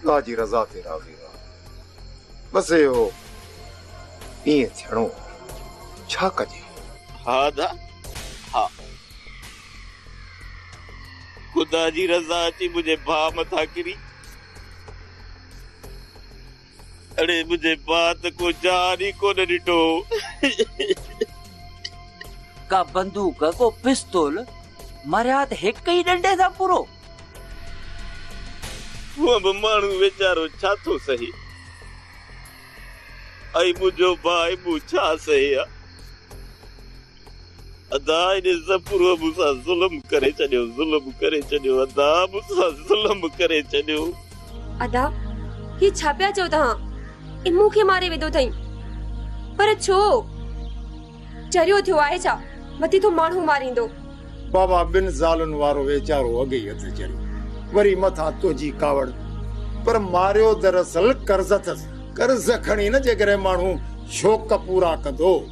الله جي رضا تي راضي رهو. بس اهو ائين ٿيڻو هو. ڇا ڪجي؟ ها ادا ها. خدا جي رضا اچي منهنجي ڀاء مٿان ڪري. اڙي منهنجي ماء ته ڪو جان ئي ڪونه ڏٺو. ڪا بندوق، ڪو پستول، مرهيات هڪ ئي ڏنڊي سان پورو. هونء به ماڻهو ويچارو ڇا ٿو سهي ۽ منهنجو ڀاء مون ڇا سهي ها. ادا ان زپرو مون سان ظلم ڪري ڇڏيو ظلم ڪري ڇڏيو ادا مون سان ظلم ڪري ڇڏيو. ادا هي ڇا پيا چئو توهان ان مون کي ماري وڌو اٿئي پر ڇو چريو ٿيو آهي ڇا وڌي ٿو ماڻهو ماريندو. بابا ٻن زالن وارو ويچارو اڳ ئي اٿس چريو وري مٿان تنهنجي ڪاوڙ پر ماريو دراصل قرض اٿس قرض کڻي نه جيڪڏهن ماڻهو شوق پورا ڪندو.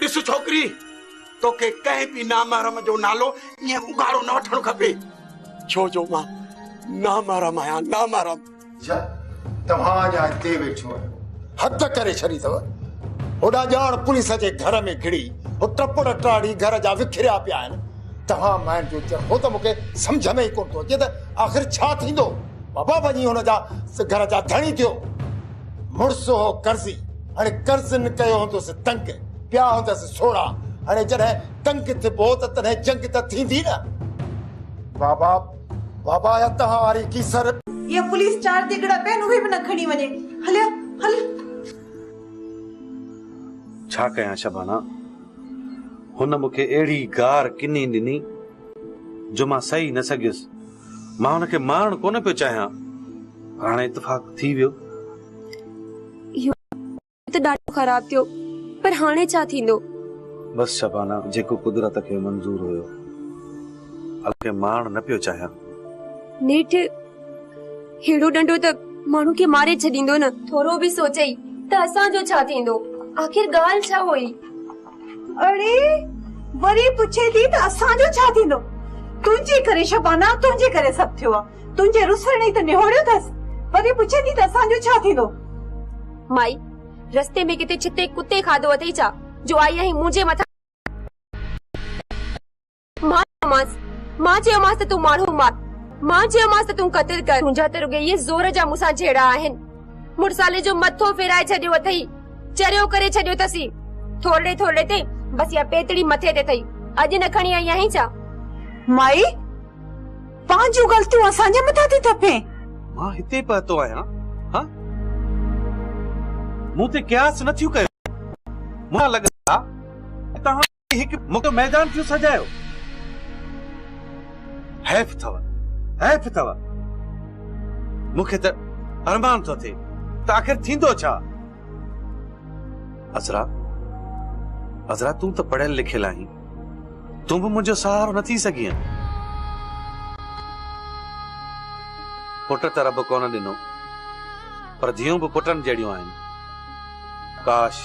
ڏس ڇوڪري توکي ڪنهن به نامحرم جو نالو ائين اگهاڙو نه وٺڻ کپي ڇو جو مان نامحرم آهيان نامحرم اچا توهان اڃا هتي ويٺو آهيو حد ڪري ڇڏي اٿو هوڏا ڄاڻ پوليس جي گهر ۾ گهڙي هو ٽپڙ ٽاڙي گهر جا وکريا پيا آهن توهان مائن جو چرخو ته مونکي سمجهه ۾ ئي ڪونه ٿو اچي ته آخر ڇا ٿيندو بابا وڃي هن جا گهر جا ڌڻي ٿيو مڙس هو قرضي هاڻي قرضن ڪيو هوندس تنگ پيا هوندس سوڙا هاڻي جڏهن تنگ ٿبو ته تڏهن جنگ ته ٿيندي نه بابا بابا يا تهان واري ڪيسر يا پوليس چار تيڳڙا پين اهي به نه کڻي وڃي هليا هل ڇا ڪيان شبانا هن مونکي اهڙي گار ڪني ڏني جو مان سهي نه سگهيس مان هن کي مارڻ ڪونه پيو چاهيان پر هاڻي اتفاق ٿي ويو. اهو ته ڏاڍو خراب ٿيو پر هاڻي ڇا ٿيندو؟ بس شبانه جيڪو قدرت کي منظور هيو. هن کي مارڻ نه پيو چاهيان. نيٺ ههڙو ڏنڊو ته ماڻهو کي ماري ڇڏيندو نه. ٿورو به سوچئي ته اسان جو ڇا ٿيندو؟ آخر ڳالهه ڇا هئي؟ اڙي وري پڇي ٿي ته اسان جو ڇا ٿيندو؟ تنهنجي ڪري شبانا، تنهنجي ڪري سڀ ٿيو آ. تنهنجي رسڻ ئي ته نهوڙيو ٿس. وري پڇي ٿي ته اسان جو ڇا ٿيندو؟ مائي، رستي ۾ ڪٿي ڇتي ڪتي کاڌو اٿئي ڇا جو آئي آهين منهنجي مٿان. مان چيومانس، مان چيومانس ته تون ماڻهو مار، مان چيومانس ته تون قتل ڪر، تنهنجا ته رڳو اهي زور جا مون سان جهيڙا آهن. مڙسالي جو مٿو ڦيرائي ڇڏيو اٿئي، چريو ڪري ڇڏيو اٿسي، ٿورڙي ٿورڙي تي بس اها پيتڙي مٿي تي اٿئي، اڄ نه کڻي آئي آهين ڇا؟ مائي! پنهنجون غلطيون اسان جي مٿان ٿي ٿڦين. مان هتي پهتو آهيان، هان! مون تي قياس نه ٿيون ڪيو، مون سان لڳن ٿا ته توهان هڪ موٽو ميدان ٿيون سجايو. حيف اٿو حيف اٿو مون کي ته ارمان ٿو ٿئي ته آخر ٿيندو ڇا؟ عذرا عذرا تون ته پڙهيل لکيل آهين تون به منهنجو سهارو نه ٿي سگهين پٽ ته رب ڪونه ڏنو پر ڌيون به پٽن جهڙيون آهن ڪاش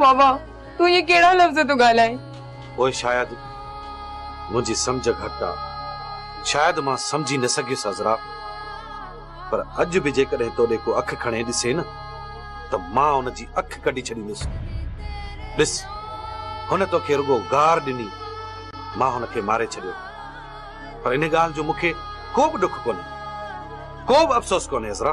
واھ واھ تون ايئن ڪهڙا لفظ ٿو ڳالهائين. پوء شايد منهنجي سمجهه گهٽ آ شايد مان سمجهي نه سگهيس عذرا پر اڄ به جيڪڏهن تو ڏي ڪو اک کڻي ڏسي نه ته مان ان جي اک ڪڍي ڇڏيندس ڏس هن توکي رڳو گار ڏني مان هن کي ماري ڇڏيو پر ان ڳالهه جو مون کي ڪو به ڏک ڪونهي ڪو به افسوس ڪونهي عذرا.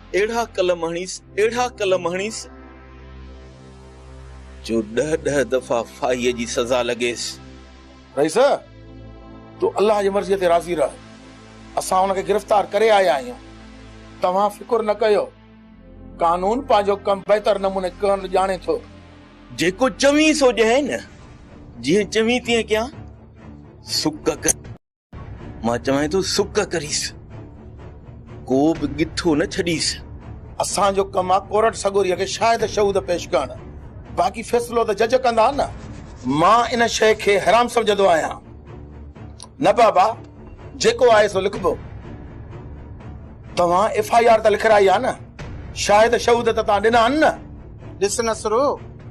اهڙا قلم هڻيس، اهڙا قلم هڻيس. جو ڏهه ڏهه دفعا ڦاهيء جي سزا لڳيس. رئيس! تون الله جي مرضيء تي راضي رهه. اسان هن کي گرفتار ڪري آيا آهيون. توهان فڪر نه ڪيو. قانون پنهنجو ڪم بهتر نموني ڪرڻ ڄاڻي ٿو. جيڪو چوين سو ڄائين نه. جيئن چوين تيئن ڪيان. سڪ ڪري. مان چوانء ٿو سڪ ڪريس، ڪو به ڳٿو نه ڇڏيس. اسان جو ڪم آ ڪورٽ سڳوريء کي شاهد شهود پيش ڪرڻ، باقي فيصلو ته جج ڪندا نه. مان ان شيء کي حرام سمجهندو آهيان. نه بابا، جيڪو آهي سو لکبو. توهان ايف آء آر ته لکرائي آ نه، شاهد شهود ته توهان ڏنا آهن نه. ڏس نصرو،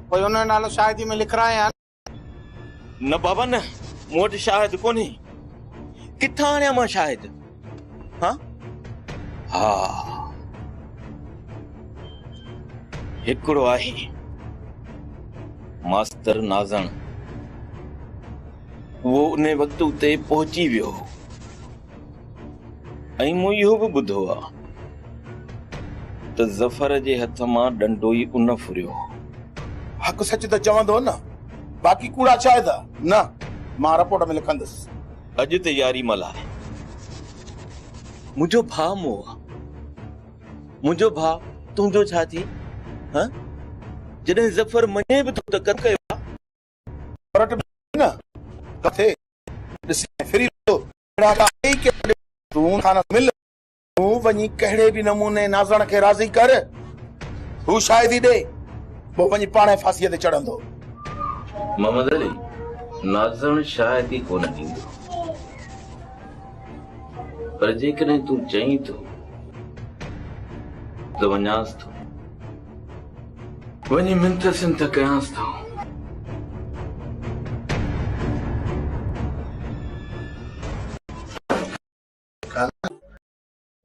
پوء انهيء نالو شاهديء ۾ لکرائيان. نه بابا نه، مون وٽ شاهد ڪونهي، ڪٿان آڻيان مان شاهد؟ ها ها هڪڙو آهي ماستر نازڻ، اهو انهي وقت اتي پهچي ويو هو. ۽ مون اهو به ٻڌو آ ته ظفر جي هٿ مان ڏنڊو ئي ان ڦريو هو. حق سچ ته چوندو نه، باقي ڪوڙا شاهد نه، مان رپورٽ ۾ لکندس. اڄ ته ياري ملهائي. منهنجو ڀاء مون آ. منهنجو ڀاء تنهنجو ڇا ٿئي؟ ها؟ جڏهن ظفر مڃي به ٿو ته ڪٿ ڪيو آ؟ ڪورٽ ۾ نه ٿو ٿئي. ڏسي ۽ ڦري ڏسو، اهڙا ڪا آهي ئي ڪير جو تون کان نه مل. تون وڃي ڪهڙي به نموني نازڻ کي راضي ڪر، هو شاهدي ڏي، پوء وڃي پاڻهي ڦاسيء تي چڙهندو. محمد علي، نازڻ شاهدي ڪونه ڏيندو، پر جيڪڏهن تون چئين ٿو ته وڃانس ٿو. وڃي منٿ سنٿ ڪيانس ٿا.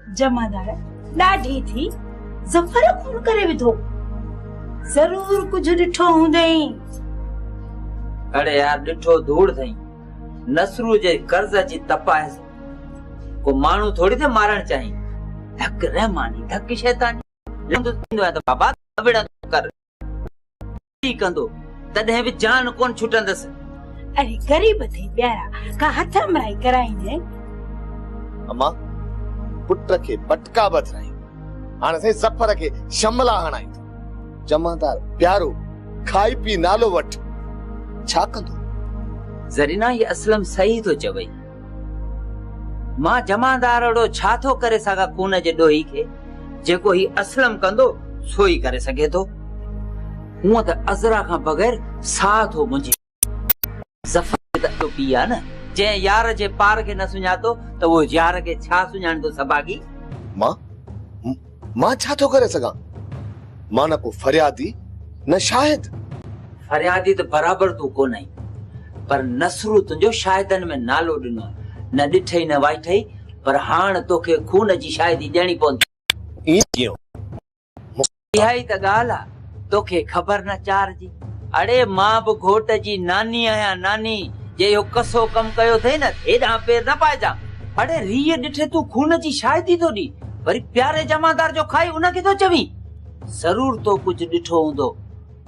جمعدار ڏاڍي ٿي ظفر خون ڪري وڌو. ضرور ڪجهه ڏٺو هوندئي. اڙي يار ڏٺو ڌوڙ ٿئي. نصرو جي قرض اچي تپائس. ڪو ماڻهو ٿوري ٿي مارڻ چاهين. ڌڪ رحماني ڌڪ شيطاني. لنگهه ٿيندو آهي ته بابا ڪوڙ ڪر ڪي ڪندو تڏهن به جان ڪون ڇٽندس اري غريب ٿي پيارا ڪا هٿ امرائي ڪرائيني اما پٽ کي بٽڪا بڌرائي هاڻ سائين ظفر کي شملا هڻائي جمعدار پيارو کائي پي نالو وٺ ڇا ڪندو زرينا هي اسلم صحيح ٿو چوي مان جمعدار اھڙو ڇا ٿو ڪري سگھان خون جي ڏوھي کي، جيڪو ھي اسلم ڪندو سو ئي ڪري سگھي ٿو. ھونئن ته عذرا کان بغير ساھ ٿو منجھي. ظفر به ته اھڙو پيء آ نه، جنھن يار جي پار کي نه سڃاتو ته اھو يار کي ڇا سڃاڻيندو سڀاڳي. مان، مان ڇا ٿو ڪري سگهان؟ مان نه ڪو فريادي نه شاهد. فريادي ته برابر تون ڪونهين، پر نصرو تنهنجو شاهدن ۾ نالو ڏنو، نه ڏٺئي نه وائٺئي، پر هاڻ توکي خون جي شاهدي ڏيڻي پوندي. ائين ڪيئن؟ اها ئي ته ڳالهه آ. توکي خبر نه چار جي. اڙي مان به گهوٽ جي ناني آهيان ناني جي اهو ڪسو ڪم ڪيو اٿئي نه ته هيڏانهن پير نه پائجان. اڙي ريء ڏٺي تون خون جي شاهدي ٿو ڏين وري پياري جمعدار جو کائي ان کي ٿو چوين. ضرور تو ڪجهه ڏٺو هوندو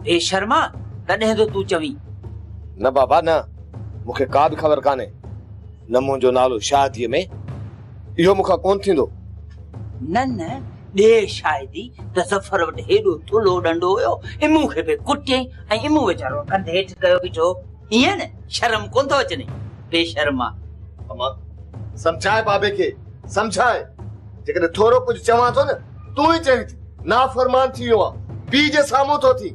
بيشرما تڏهن ٿو تون چوين. نه بابا نه مون کي ڪا به خبر ڪانهي نه منهنجو نالو شاهديء ۾. اهو مون کان ڪونه ٿيندو. نه نه ڏيء شاهدي ته ظفر وٽ هيڏو ٿلهو ڏنڊو هيو، امون کي به ڪٽيئي ۽ امون ويچارو ڪنڌ هيٺ ڪيو بيٺو هو. ائين نه شرم ڪونه ٿو اچنئي بيشرما. امان سمجهاء بابي کي، سمجهاء. جيڪڏهن ٿورو ڪجهه چوان ٿو نه، تون ئي چوين ٿي. نافرمان ٿي ويو آهيان. پيء جي سامهون ٿو ٿين.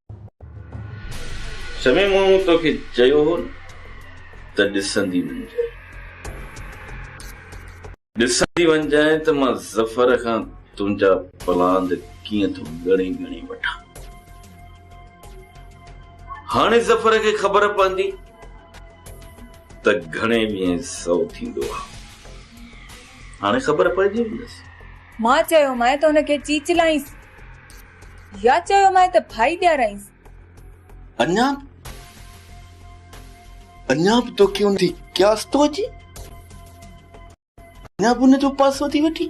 شمي مون توکي چيو هو نه ته ڏسندي وڃجانء. ڏسندي وڃجانء ته مان ظفر کان تنهنجا پلاند ڪيئن ٿو ڳڻي ڳڻي وٺان. هاڻي ظفر کي خبر پوندي ته گهڻي ويهين سو ٿيندو آ. هاڻي خبر پئجي ويندس. مان چيومانء ته ان کي چيچلائينس. يا چيومانء ته ڀائي ڏيارائينس. اڃا اڃا به توکي ان تي قياس ٿو اچي؟ اڃا به ان جو پاسو ٿي وٺي؟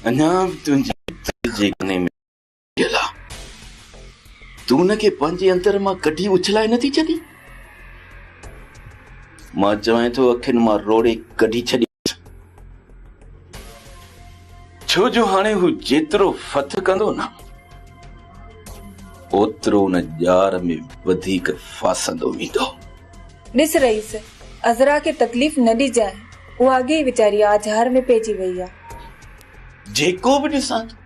اڃا به تنهنجي دل جي ڪني ۾ دلا! تون ان کي پنهنجي اندر مان ڪڍي اڇلائي نٿي ڇڏين؟ مان چوين ٿو اکين مان روڙي ڪڍي ڇڏيس. ڇو جو هاڻي هو جيترو ڦٿ ڪندو نه، اوترو ان ڄار ۾ وڌيڪ ڦاسندو ويندو. ڏس رئيس! عذرا کي تڪليف نه ڏجانء. اها اڳي ئي ويچاري آجهار ۾ پئجي وئي آ. جيڪو به ڏسان ٿو.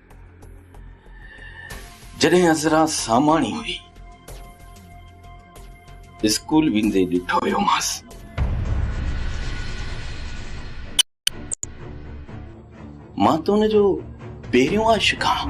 جڏهن عذرا ساماڻي هئي، اسڪول ويندي ڏٺو هيومانس. مان ته ان جو پهريون عاشق آهيان.